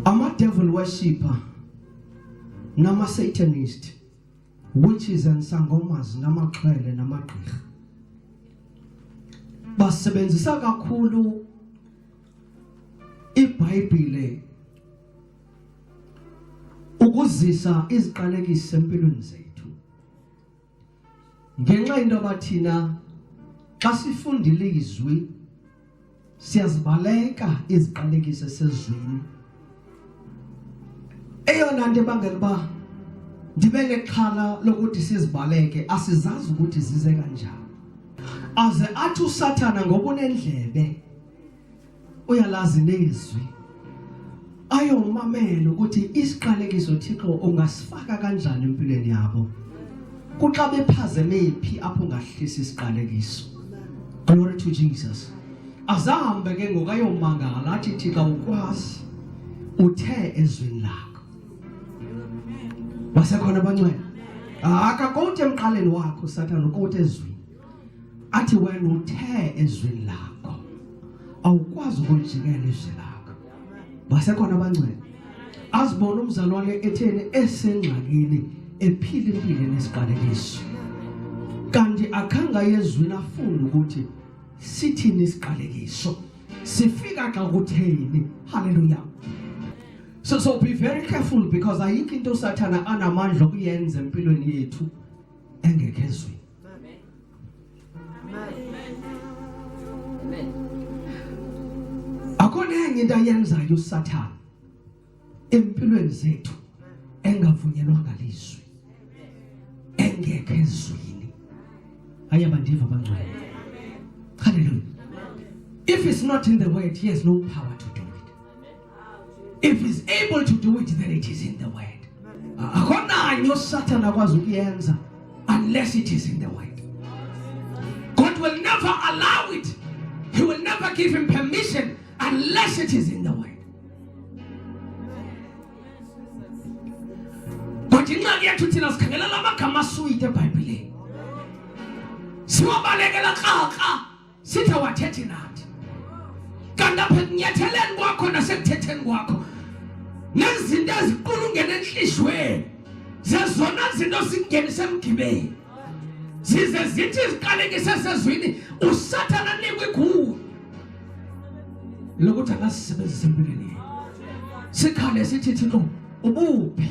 ama-devil worshipper nama-satanist witches and sangomas namaxhwele namagqirha basebenzisa kakhulu ibhayibhile ukuzisa iziqalekiso empilweni zethu ngenxa into yoba thina xa sifundile izwi siyazibaleka iziqalekiso esezwini eyona nto ebangela uba ndibe nexhala lokuthi sizibaleke asizazi ukuthi zize kanjani aze athi usathana ngokunendlebe uyalazi nezwi ayomamela ukuthi isiqalekiso Thixo ungasifaka kanjani empilweni yabo kuxa bephazeme phi apho ngahlisa isiqalekiso glory to Jesus azahambe ke ngokayomangala athi Thixo ukwazi uthe ezwini lakho basekhona bancwela akakoti emqaleni wakho sathana ukoti ezwini athi wena uthe ezwini lakho awukwazi ukulijikela izwi lakho basekhona abancane azibona umzalwane etheni esengxakini ephila impilo nesiqalekiso kanti akhanga yezwini afunde ukuthi sithini isiqalekiso sifika xa kutheni haleluya so so be very careful because ayikho into usathana anamandla okuyenza empilweni yethu engekho ezweni Amen. Amen. Akho nenye into ayenzayo uSathana empilweni zethu engavunyelwa ngalizwi engekho ezwini aya bandiva bangcwele hallelujah if it's not in the word he has no power to If he's able to do it, then it is in the word. Hakuna nyo Satan akwazi ukuyenza unless it is in the word. God will never allow it. He will never give him permission unless it is in the word. But ingxaki yethu thina sikhangelela amagama asuyite ebhayibhileni siwabalekela krakra sithawathethi nathi kanti apha ekunyatheleni kwakho nasekuthetheni kwakho nezinto eziqulungene entliziyweni zezona zinto zingenise emgibeni zize zithi ziqalekise sezwini usathana nikwe kuwe lokuthi akasisebenzise empilweni sikhale sithi thixo ubuphi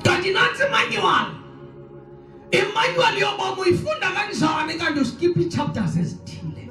kanti nantsi manywala Emmanuel yoba muyifunda kanjani kanti uskipha ii-chapters ezithile